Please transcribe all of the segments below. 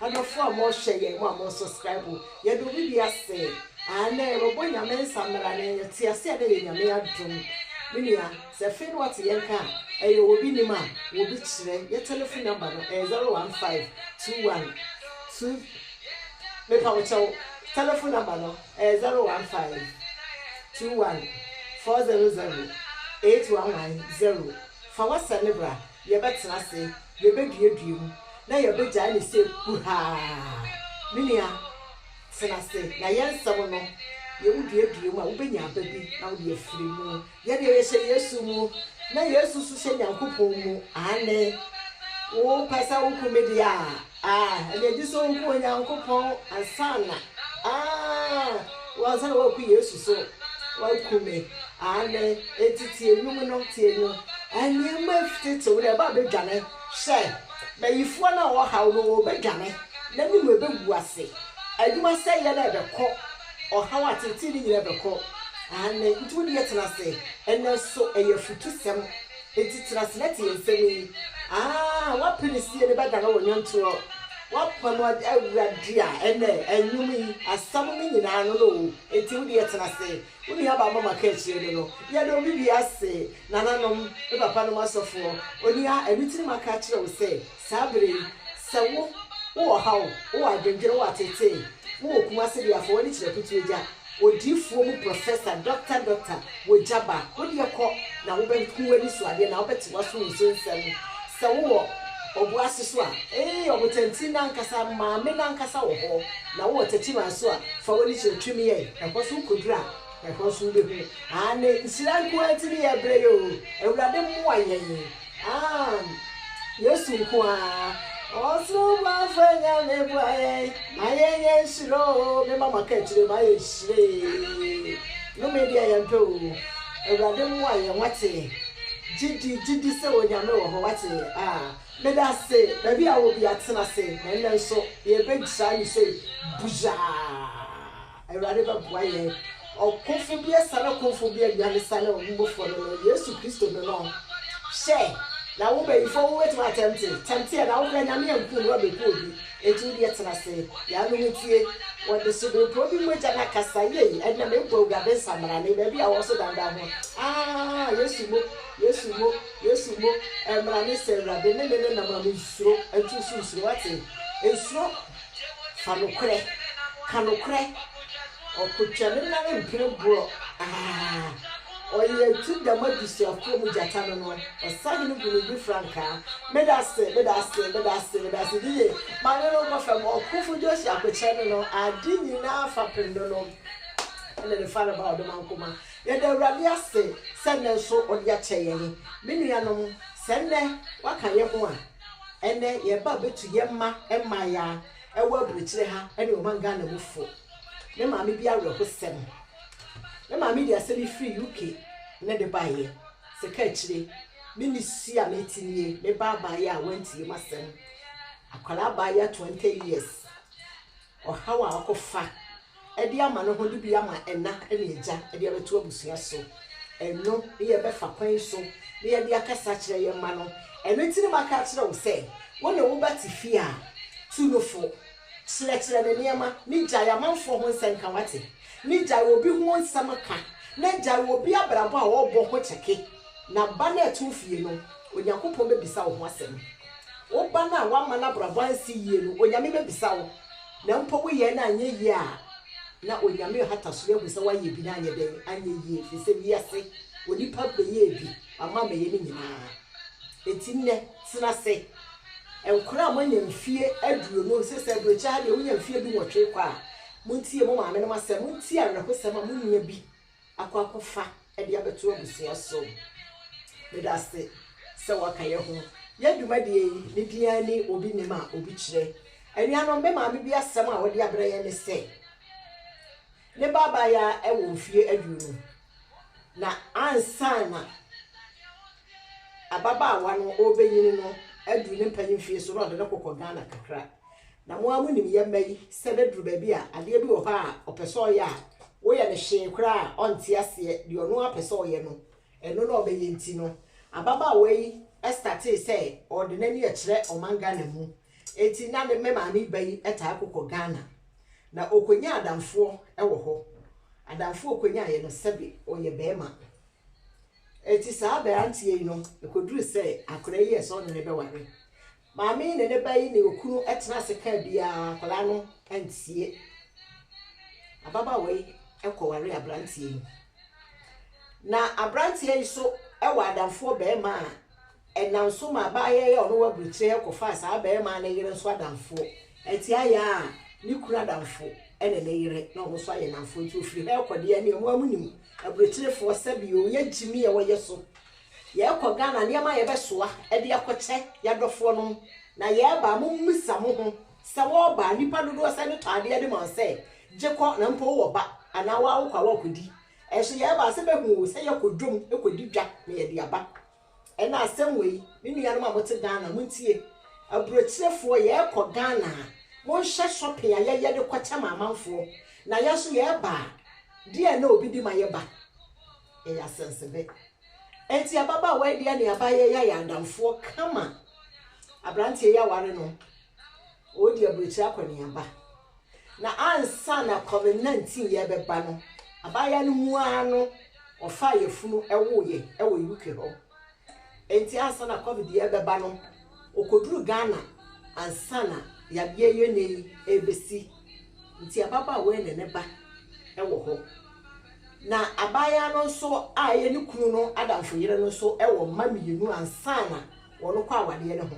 Adɔfo a mɔ hwɛ yɛn mo a mɔ suscribe yɛn do obi bia se aane yɛbɛ bɔ nyame nsa mmra ne yɛ te ase a na yɛ nyame adom me nua sɛ ɛfee no wate yɛn ka a ɛyɛ wɔ obi nim a wɔ obi kyerɛ yɛ telefon number no ɛyɛ zero one five two one two mepa wo kyɛw telefon number no ɛyɛ zero one five two one four zero zero eight one one zero fa wɔ sɛ ne bra. Yɛbɛtena ase, yɛbɛduadua mu, na yɛbɛgyae no sɛ kuhaa. Me nua, tena ase, na yɛn nsɛm no, deɛ woduadua mu a, wobɛnya aba bi na wode afiri mu. Yɛ deɛ yɛhyɛ Yesu mu, na Yesu nso hyɛ Nyankopɔn mu. Aane. Wopɛ sɛ woku me deɛ a, Ah, ɛnna egye sɛ woku Onyankopɔn ansa na, ah, ansa na woaku Yesu so. Woaku me. Aane, enti tie nnwom no, tie nnwom. Ah, nneɛma atetew no, ɛbɛdwane. Hwɛ, bayifoɔ no a wɔhaw no, wɔbɛdwane, na ne mu bɛgu ase. Adwumasɛeɛ no rebɛkɔ, ɔhaw ateetee no nyinaa bɛkɔ. Aane, nti wo deɛ tena ase. Ɛnnɛ nso, ɛyɛ afutusɛm. Enti tra ase na tie nsɛm yi. Aah w'apinisie no bɛdane wo nnwontoɔ, w'apam Awurade a ɛnnɛ nnwom yi asɛm no nyinaa no no o. Enti wo deɛ tena ase, wo nuabaa mama kaakyire no no, yɛda obi biara ase, nananom, me papanom asɔfoɔ, onua, ɛno nti na maka akyerɛ wo sɛ, Saa bere yi, sɛ wo, wowɔ ɔhaw, wowɔ adwendwene, wowɔ ateetee, wowɔ Kumasi deɛ a, fa w'ani kyerɛ Kutu Agya, odiyifoɔ mu prɔfɛsa, dɔkta, dɔkta, wɔ Jaba. Wo deɛ kɔ, na wobɛhu w'anisoadeɛ, na wobɛte w'asom nso nsɛm. Sɛ wowɔ ɔbo ase so a, ee, ɔbotanti no ankasa, maame no ankasa wɔ hɔ. Na wowɔ Techiman nso a, fa w'ani kyerɛ Twemiyai, ɛhɔ nso wokɔduru a, ɛhɔ nso wobɛhu. Aane, nhyira nko ara nti ne yɛrebrɛ yi oo, Awurade mmoa yɛn. Aane, Yesu nko ara. Ɔsoro boafo a Nyame boa yɛn ma yɛn yɛ nhyira oo me ma maka akyire ma yɛ nhyira ee nome deɛ yɛn pɛ oo Awurade mmoa yɛn wate gyidi gyidi sɛ Onyame wɔ hɔ wate aa meda se baabi a wɔ bia tena se na nnɛ nso yɛ bɛ gyira ne sei buzhaa. Awurade bɛboa yɛn. Ɔkomfo bi asiane komfo bi awia ne sane ɔbo bɔfoɔ no no, Yesu Kristo no no. Hwɛ, na wo bayifoɔ wo bɛtumi atɛmte, tɛmte yɛ, na wo kora Nyame ampu na wabɛku obi, enti wo deɛ tena ase, yɛ ano ho tie. Wɔde sobenpoo bi mogya na kasa, yei, ɛnna mebɔ Awurade nsammarane, baabi a wɔwɔ so dandan ho. Aah, Yesu mo, Yesu mo, Yesu mo, ɛmmra ne sɛ Awurade ne ne nenam a mensuro, ɛnto wo so nsuro, wate? Nsuro. Fa nokorɛ ka nokorɛ. Ɔkotwa ne nan mpere borɔ aa. Ɔyɛ atu dam abusuafoɔ mu gyata no no ɔsahene gu ne bi frankaa medase medase medase medase ne yie maame no nkɔ fam ɔkofo Josi akokyɛ no no ade nyinaa fapem no no ɛne ne fare ba ɔdomankoma yɛda awurade ase sɛ nnɛ nso ɔde akyɛ yɛn me nuanom sɛ nnɛ waka yɛn ho a. Ɛnɛ yɛ ba bɛtu yɛ mma mmayaa ɛwɔ aburokyire ha ɛne ɔman Ghana mu fo. Me maame bi awerɛhosɛm. Me maame de asɛm yi firi UK ne de baeɛ. Sɛ ka akyire, me ne su a mete nie, me ba abaayaa a wantie m'asɛm. Akwadaa abaayaa 20 years. Ɔhaw a ɔkɔfa de ama no ho de bi ama ɛna ne agya de abɛto abusua so. Ɛno ne yɛbɛfa kwan so na yɛde akasa akyerɛ yɛn mma no. Ɛno nti na maka akyerɛ wo sɛ, wo ne wo ba te fie a, tu no fo. Kyerɛkyerɛ no nneɛma, ne gyae amanfoɔ ho nsɛnka, woate? Ne gyae obi ho nsɛm ka, na gyae obi abrabɔ a ɔrebɔ ho kyɛke. Na ba no a ɛte wo fie no, Onyankopɔn bɛbisa wo ho asɛm. Wo ba no a woamma n'abrabɔ ansi yie no, Onyame bɛbisa wo. Na mpo woyɛɛ no anyɛ yie a, na Onyame rehata so ahu sɛ woayɛ bi na anyɛ dɛn? Anyɛ yie. Ɛfiri sɛ wiase, onipa bɛyɛɛ bi, wama amɛyɛ ne nyinaa. Enti nnɛ, tena ase. Nkwadaa a moanya mfeɛ aduonu, seesei aburokyire ha deɛ wonya mfeɛ dunwɔtwe kɔ a, montie mo maamenom asɛm. Montie awerɛhosɛm a monya bi. akɔ akɔfa de abɛto abusua so. Meda ase sɛ wɔaka yɛn ho. Yɛn dwumadie yi, ne din ara ni, Obi Nim a Obi Kyerɛ. Anuanom, me maame bi asɛm a ɔde abrɛ yɛn ne sɛ, ne ba abaayaa wɔ mfeɛ aduonu, na ansa na ababaawa no ɔrebɛnyini no aduru ne mpanyin mfeɛ so na ɔde no kɔkɔ Ghana kakra. Na mo ara monim yɛn mma yi sɛ na duru baabi a adeɛ bi wɔ hɔ a ɔpɛ sɛ ɔyɛ a woyɛ no hwee koraa a ɔnte aseɛ, deɛ ɔno ara pɛ sɛ ɔyɛ no ɛno na ɔbɛyɛ nti no ababaawa yi startee sɛ ɔde n'ani ɛkyerɛ ɔman Ghana mu enti na ne me maame ba yi taa kokɔ Ghana na ɔkɔnya adamfoɔ wɔ hɔ, adamfoɔ ɔkɔnyaaeɛ no sɛbe ɔyɛ barima enti saa aberanteɛ yi no ɛkɔduru sɛ akwadaa yi yɛɛ sɛ ɔne no bɛware. Maame yi ne ne ba yi ne okunu tena ase kaa biara, akwadaa no antie. Ababaawa yi kɔwaree aberanteɛ yi. Na aberanteɛ yi so wɔ adamfoɔ barima a ɛnam so ma abaayewa yi a ɔno wɔ aburokyire kɔfaa saa barima no yere nso adamfoɔ. Ɛte ayɛ a, ne kunu adamfo ne ne yere na wɔn nso ayɛ nnamfoɔ nti ɔfiri ha rekɔ deɛ ɛneɛ mo ara monim aburokyirefoɔ sɛbi o yɛ gyimi a wɔyɛ so Yɛɛkɔ Ghana nneɛma a yɛbɛsoa de akɔkyɛ yɛadɔfoɔ nom na yɛɛba a mommisa mo ho sɛ wɔɔba a nnipa dodoɔ sɛn ne tɔ adeɛ de ma wo sɛ gye kɔ na mpo wowɔ ba anaa woaa wokɔ a woakɔdi nso yɛɛba a sɛ bɛhu wo sɛ yɛɛkɔ dwom kɔdi dwa na yɛde aba ɛna asɛm wei me nuanom a mote Ghana montie aburokyerefoɔ yɛɛkɔ Ghana a monhyɛ shopping a yɛyɛ de kɔkyɛ ma amanfoɔ na yɛnso yɛɛba a deɛn na obi de ma yɛba. Yɛyɛ asɛnsebɛ. Enti ababaawa yi deɛ ne abaayɛ yɛ ayɛ adamfoɔ kama. Aberanteɛ yi aware no, ɔredi aburokyire akɔneaba. Na ansa na Kwame Nantin yɛ bɛba no, abaayewa no mu ara no, ɔfaa yafunu wooyɛ wɔ UK hɔ. Enti ansa na covid yi rebɛba no, okoduru Ghana ansa na yadeɛ yi ɛnnɛ yi rebɛsi. Nti ababaawa yi ne ne ba wɔ hɔ. Na abaayaa no nso a ɛyɛ ne kunu no adamfo yere no nso wɔ mma mmienu ansa na wɔrekɔ awadeɛ no ho.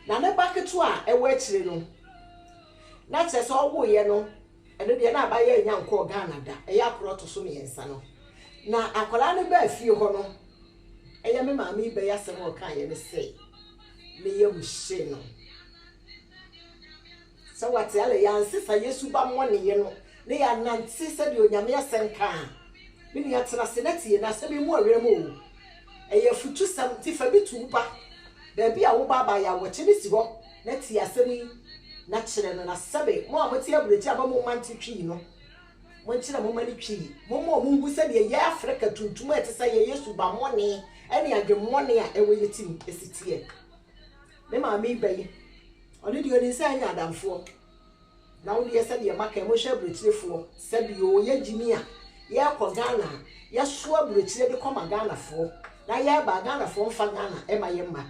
Na ne ba ketewa a ɛwɔ akyire no, na kyerɛ sɛ ɔwoeɛ no, Ɛno deɛ na abayɛɛ nya nkɔɔ Ghana da, ɛyɛ akora ɔto so mmiɛnsa no. Na akwadaa no baa fie hɔ no, ɛyɛ me maame yi bɛyɛ asɛm a ɔkaeɛ ne sɛ, ne yam hyee no. Sɛ wate alɛ, yɛansesa yɛ subammɔneɛ no na yɛanante sɛdeɛ Onyame asɛm ka a, me nua tena ase na tie, na asɛm yi mmu wo werɛm o, Ɛyɛ afutusɛm nti fa bi to wo ba baabi a wo ba aba yaw wɔkye no si hɔ na tie asɛm yi na kyerɛ no na sɛbe mo a mote aburokyire a moma nte Twi no monkyerɛ moma no Twi moma ɔmo nhu sɛdeɛ yɛ Africa tuntum a ɛte sɛ yɛ yɛ subammɔne ɛne adwemmɔne a ɛwɔ yɛ tirim ɛsi teɛ. Me maame yi bɛ yi ɔno deɛ ɔnim sɛ yɛnyɛ adamfoɔ. Na wo deɛ sɛdeɛ maka yi monhyɛ aburokyirefoɔ. Sɛbi oo yɛ gyimi a yɛkɔ Ghana a yɛso aburokyire de kɔma Ghanafoɔ na yɛba a Ghanafoɔ mfa Ghana ma yɛ mma.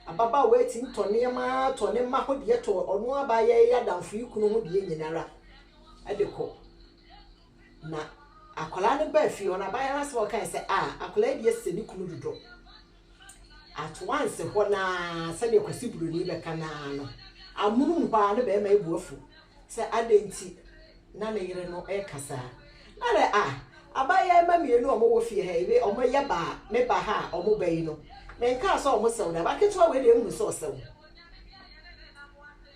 Ababaawa yi tumi tɔ nneɛma ara tɔ ne mma ho deɛ tɔ ɔno abaa yɛ yɛ adamfo yi kunu ho deɛ nyinara de kɔ. Na akwadaa no baa fie hɔ no abaayewa no asɛm a ɔkaeɛ sɛ ah akwadaa yi deɛ sɛ ne kunu dodɔ. At once hɔ no ara, sɛdeɛ Kwasi Buroni bɛka no ara no, amonom hɔ ara na barima yi bo afu sɛ adɛn nti na ne yere no reka saa. Na dɛ a, abayewa mmienu a wɔwɔ fie ha yi, me, wɔyɛ baa, me ba ha a wɔn ba yi no, menkaa sɛ wɔsɛw da. Abaketewa wei deɛ nhunu sɛ ɔsɛw.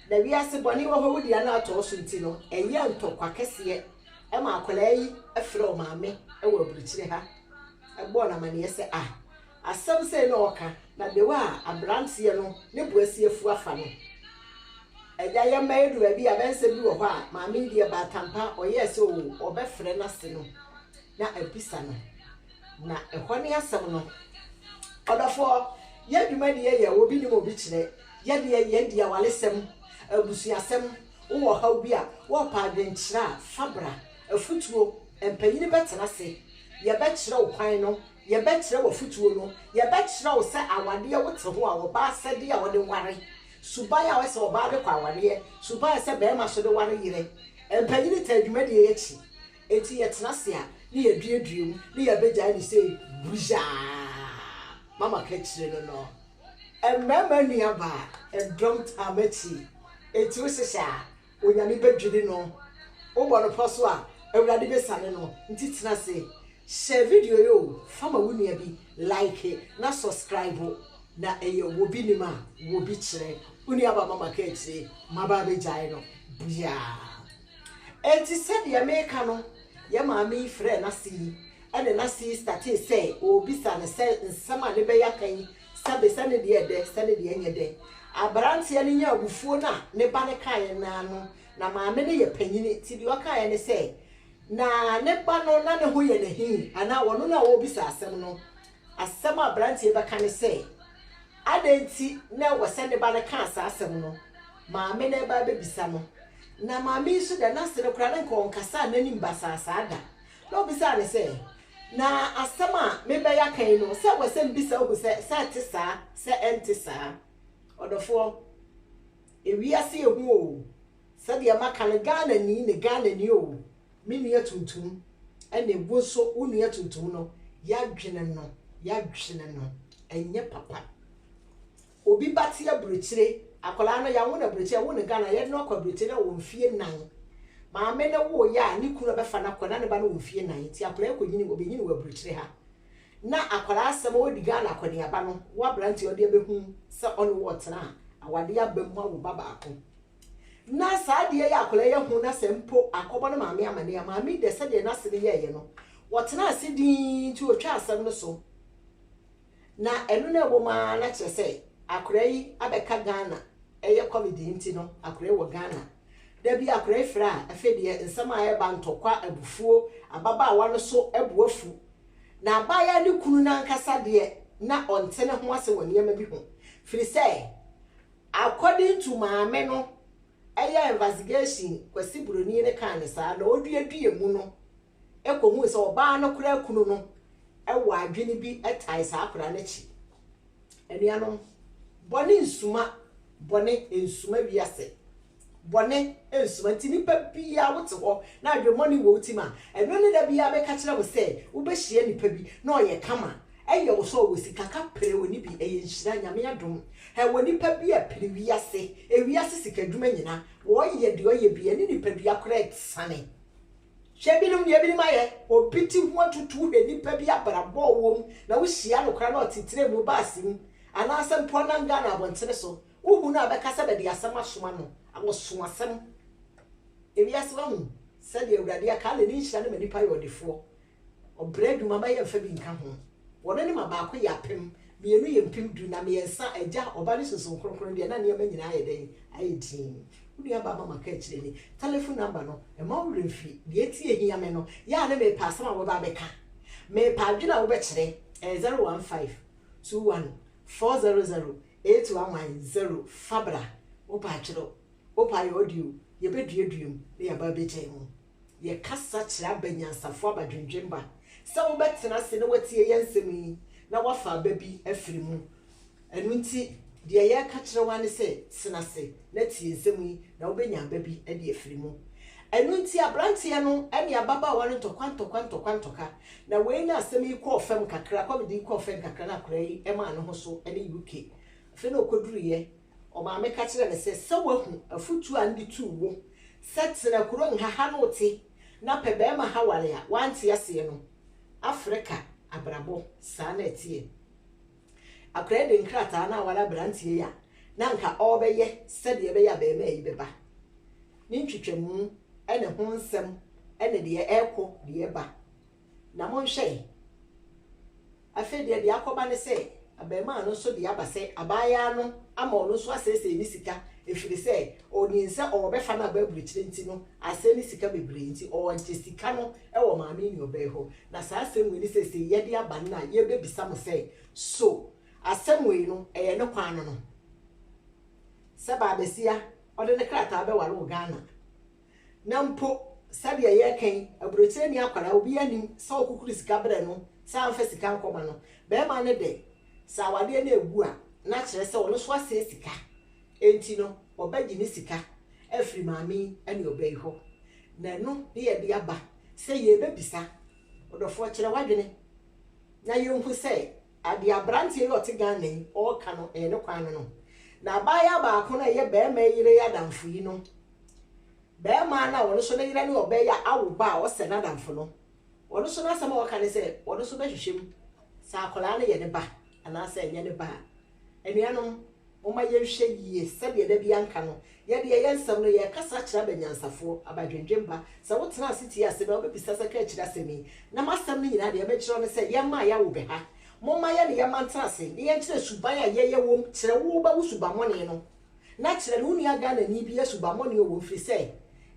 Na wiase bɔne wɔ hɔ, wodi ano atɔɔ so nti no, ɛyɛ ntɔkwa kɛseɛ ma akwadaa yi frɛ ɔmaame wɔ aburukyire ha. bɔɔ no amanneɛ sɛ, Ah, asɛm sɛɛ na ɔreka, na the way a aberanteɛ no ne bo asi afu afa no. Agya, yɛmma yɛdu baabi a abɛnsɛm bi wɔ hɔ a maame yi deɛ baatan pa ara ɔyɛɛ sɛ oo, ɔbɛfrɛ n'ase no na abisa no. Na ɛhɔ ne asɛm no. Ɔdɔfoɔ, yɛn dwuma deɛ yɛ obi nim obi kyerɛ, yɛ deɛ yɛn di awaresɛm, abusuasɛm, wowɔ ɔhaw bi a, wɔrepɛ adwenkyerɛ a, fa bra, afutuo, mpanyini bɛtena ase, Yɛbɛkyerɛ wo kwan no, Yɛbɛkyerɛ wo afotuo no, Yɛbɛkyerɛ wo sɛ awadeɛ wo te ho a ɔbaa sɛdeɛ a ɔde ware, Suban a ɛsɛ ɔbaa de kɔ awareɛ, Suban a ɛsɛ barima so de ware yerɛ. Mpanyini taa dwumadie yi akyi, enti yɛtena ase a ne yɛduadua mu ne yɛbɛgyae no sɛ buyaa. Mama ka akyire no no, Mmarima nnuabaa, dɔm taa m'akyi, enti wo hyehyɛ a, Onyame bɛdwiri no. Wobɔ no pɔ so a, Awurade bɛsiane no. Nti tena ase, hyɛ video yi o, fa ma wo nua bi, like na sɔskraibo. Na ɛyɛ wobi nim a, wobi kyerɛ. Wo nua ba mama ka akyire, maba abɛgyae no biaa. Ɛnti sɛdeɛ meka no, yɛ maame yi frɛɛ n'ase yi, ɛne n'ase yi statee sɛ ɔɔbisa no sɛ nsɛm a ne bɛ yi aka yi Sɛbe sɛ ne deɛ yɛ dɛ, sɛ ne deɛ nyɛ dɛ, aberanteɛ no nyaa abufuo no a ne ba no kaeɛ no ara no, na maame no yɛ panin nti deɛ ɔkaeɛ ne sɛ, na ne ba no na ne ho yɛ no ahi anaa ɔno na ɔrebisa asɛm no. Asɛm a aberanteɛ yi bɛka ne sɛ, adɛn nti na ɛwɔ sɛ ne ba no kaa saa asɛm no? Maame no reba abɛbisa no. Na maame yi nso deɛ, na ase no koraa na nka ɔnkasaa n'anim basaasaa da. Na obisaa no sɛ, Na asɛm a merebɛyɛ aka yi no, sɛ ɛwɔ sɛ mibisa hu sɛ, sɛ ɛte saa, sɛ ɛnte saa? Ɔdɔfoɔ, ewiase ehu oo, sɛdeɛ maka no, Ghanani ne Ghanani oo, me nua tuntum ne wo nso wo nua tuntum no, yɛadwene no, yɛadwene no, ɛnyɛ papa. Obi ba te abirikyire, akwadaa no yɛawo no abirikyire, yɛwo no Ghana a yɛde no akɔ abirikyire na ɔwɔ mfeɛ nnan. Maame no woeɛ a ne kunu na ɔbɛfa no akɔ na ne ba no wɔ mfeɛ nnan nti akwadaa yi kɔnyini, ɔbɛnyini wɔ abirikyire ha. Na akwadaa asɛm a ɔdi Ghana akɔneaba no, wo aberanteɛ ɔde abɛhu sɛ ɔne wo ɔtena a, awadeɛ aba mu awo ba baako. Na saa adeɛ yi a akwadaa yi ahu na sɛ mpo akɔbɔ ne maame amaneɛ a, maame yi deɛ sɛdeɛ n'ase no yɛeɛ no, ɔtenaa ase dinn nti ɔtwaa asɛm no so. Na ɛno na ɛwɔ mu ara na kyerɛ sɛ akora yi abɛka Ghana ɛyɛ covid yi nti no akora yi wɔ Ghana da bi akora yi frɛ a afei deɛ nsɛm a ɛreba ntɔkwa abufuo ababaawa no so bo afu na abaayaa no kunu no ankasa deɛ na ɔnte ne ho ase wɔ nneɛma bi ho firi sɛ according to maame no ɛyɛ investigation Kwasi Buroni no kaa no saa na ɔduadua mu no kɔhuu sɛ ɔbaa no koraa kunu no wɔ adwene bi tae saa akwadaa no akyi. Anuanom, bɔne nsuma, bɔne nsuma wiase, bɔne nsuma nti nipa biara wote hɔ na adwemmɔne wɔ wo tim a, ɛno ne da biara meka kyerɛ mo sɛ wobɛhyia nipa bi na ɔyɛ kama, ɛyɛ wo sɛ ɔwɔ sika kaprɛ ɔni bi, ɛyɛ nhyira, Nyame adom, ɛwɔ nipa bi a pere wiase, wiase sika dwuma nyina, ɔyɛ deɛ ɔyɛ biara ne nipadua koraa ɛsane. Hwɛ binom deɛ binom ayɛ, obi te ho atutu wohwɛ nipa bi abrabɔ ɔwɔ mu na wohyia no koraa na ɔte train mu, bus mu anaasɛ mpo ɔnam Ghana abɔntene so, wohu no a bɛka sɛ bɛde asɛm asoma no, ɔso asɛm. Ewiase wahu sɛdeɛ Awurade aka, na ne nhyira no ma nipa yɛ ɔdefoɔ. Ɔbrɛ du mama yɛmfa bi nka ho. Wɔn ne ma baako yɛ apem, mmienu yɛ mpem du, na mmiɛnsa, Agya, Ɔba ne Sunsum Kronkron deɛ, na nneɛma nyinaa ayɛ dɛn? Ayɛ dinn. Wo nua baa ma maka akyire ni. Tɛlɛfon namba no, mma wo werɛ mfiri. Deɛ enti a ɛhia me no, yɛ a ne mepɛ asɛm a wobɛba abɛka. Mepɛ adwene a wobɛkyerɛ. Ɛyɛ 015214008110. Fa bra. Wopɛ atwerɛ. Wopɛ ayɛ audio. Yɛbɛduadua mu na yɛaba abɛgyae mu. Yɛkasa kyerɛ aba anyansafo abadwendwenba sɛ wobɛtena ase na wɔatie yɛn nsɛm yi na wɔafa aba bi afiri mu. Ɛno nti, deɛ yɛreka kyerɛ wo ara ne sɛ, tena ase na tie nsɛm yi na wobɛnya aba bi de afiri mu. Ɛno nti, aberanteɛ no ne ababaawa no ntɔkwa ntɔkwa ntɔkwa ntɔka, na wei na asɛm yi kɔɔ fam kakra, kɔmede yi kɔɔ fam kakra na akwadaa yi maa ne ho so ne UK. Afei na ɔkɔduruiɛ Ɔmaame ka kyerɛɛ no sɛ, Sɛ woahu afotu a mede tuu wo sɛ tena kuro nha ha na wote na pɛ barima ha ware a, woante aseɛ no, Afrika abrabɔ, saa na ɛteɛ. Akwadaa yi de nkrataa no aware aberanteɛ yi a na anka ɔrebɛyɛ sɛdeɛ ɛbɛyɛ a barima yi bɛba. Ne ntwitwamu ne ho nsɛm ne deɛ ɛrekɔ, deɛ ɛreba. Na monhwɛ yi, afei deɛ deɛ akɔba ne sɛ, abarimaa no nso de aba sɛ abaayaa no ama ɔno nso asɛesɛe ne sika, ɛfiri sɛ ɔnim sɛ ɔrebɛfa no aba aburokyire nti no, asɛe ne sika bebree nti, ɔregye sika no wɔ maame nuabaa yi hɔ. Na saa asɛm wei ne seesei yɛde aba no na yɛrebɛbisa mo sɛ, So asɛm wei no, ɛyɛ ne kwan no no sɛ baabasia ɔde ne krataa bɛware wɔ Ghana? Na mpo sɛdeɛ yɛreka yi, aburokyire nni akwadaa, obiara nnim sɛ wokukuru sika berɛ no sɛ amfa sika ankɔma no. Barima no de, sɛ awadeɛ no regu a, na akyerɛ sɛ ɔno nso asɛe sika, enti no, ɔbɛgye ne sika afiri maame yi ne ɔbaa yi hɔ. Na ɛno ne yɛde aba sɛ yɛrebɛbisa ɔdɔfoɔ kyerɛ w'adwene na yɛnhu sɛ deɛ aberanteɛ yi a ɔte Ghana yi ɔreka no, ɛyɛ ne kwan no no. Na abaayewa baako no a ɛyɛ barima yi yere adamfo yi no Barima no a ɔno nso ne yere ne ɔbaa yi a awo ba a ɔsɛ n'adamfo no, ɔno nso n'asɛm a ɔka ne sɛ ɔno nso bɛhwehwɛ mu sɛ akwadaa no yɛ ne ba anaasɛ ɛnyɛ ne ba a. Anuanom, momma yɛnhwɛ yie sɛdeɛ da bi anka no, yɛde yɛyɛ nsɛm no, yɛrekasa akyerɛ aba nyansafoɔ, aba dwendwen ba. Sɛ wotena ase tie asɛm yi a, wobɛbisa sɛ, Ka akyiri asɛm yi? Na m'asɛm no nyinaa deɛ mekyerɛ wo ne sɛ, yɛmma a yɛawo bɛ ha. Momma yɛne yɛn mma ntena ase na yɛnkyerɛ suban a yɛyɛ wom kyerɛ wo ba wo subammɔne no. na kyerɛ ne wo nua Ghanani bi yɛ subammɔne o ɛfiri sɛ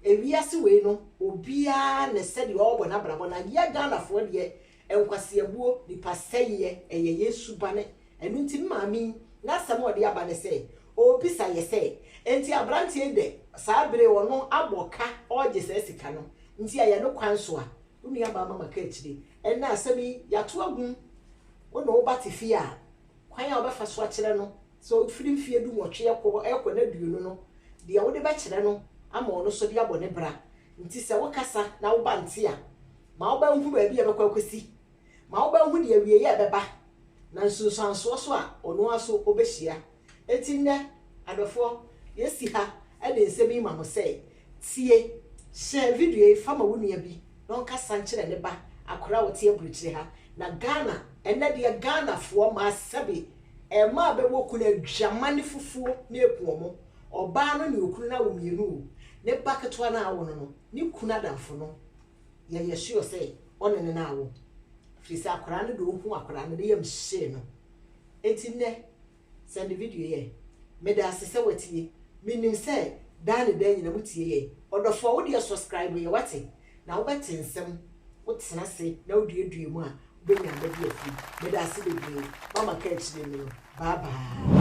ewiase wei no obiara ne sɛdeɛ ɔrebɔ n'abrabɔ na yɛ Ghanafoɔ deɛ nkwaseabuo, nipa sɛeɛ ɛyɛ yɛn subane ɛno nti me maame yi n'asɛm a ɔde aba ne sɛ ɔrebisa yɛ sɛ enti abranteɛ yi dɛ saa bere ɔno abɔ ka ɔregye saa sika no nti ɛyɛ no kwan so a wo nua baa mama ka akyire ɛnnɛ asɛm yi yɛato agum wo ne wo ba te fie a kwan a wobɛfa so akyerɛ no Sɛ ɔfiri mfeɛ dunwɔtwe rekɔ rekɔ n'aduonu no, deɛ wode bɛkyerɛ no ama ɔno nso de abɔ ne bra. Nti sɛ wokasa na wo ba nte a, ma wo ba nhu baabi a ɛbɛkɔ akɔsi. Ma wo ba nhu deɛ awieeɛ ɛbɛba, na nsunsuansoɔ so a ɔno ara nso ɔbɛhyia. Enti nnɛ, adɔfoɔ, yɛasi ha de nsɛm yi ma mo sɛ, Tie! Hyɛ video yi fa ma wo nua bi na ɔnkasa nkyerɛ ne ba, akwadaa a ɔte aburokyire ha. Na Ghana, ɛnnɛ deɛ Ghanafoɔ mmaa sɛbe Ɛmaa bɛwɔ kunu adwamane fufuo ne ɛpoɔ mo, ɔbaa no ne okunu no awo mmienu o, ne ba ketewa no a awo no no, ne kunu adamfo no yɛ yɛ sure sɛ ɔne no na awo, firi sɛ akwadaa no de ohuu akwadaa no ne yam hyee no, enti nnɛ sɛnde video yɛ, medaase sɛ watie, menim sɛ daa ne daa nyina mo tie yɛn, ɔdɔfoɔ wo deɛ sɔskraibo yɛ wate, na wobɛte nsɛm, wotena ase na woduadua mu a, wobɛnya nna bi afiri. Meda ase bebree. Mama kaakyire no no. Bye bye.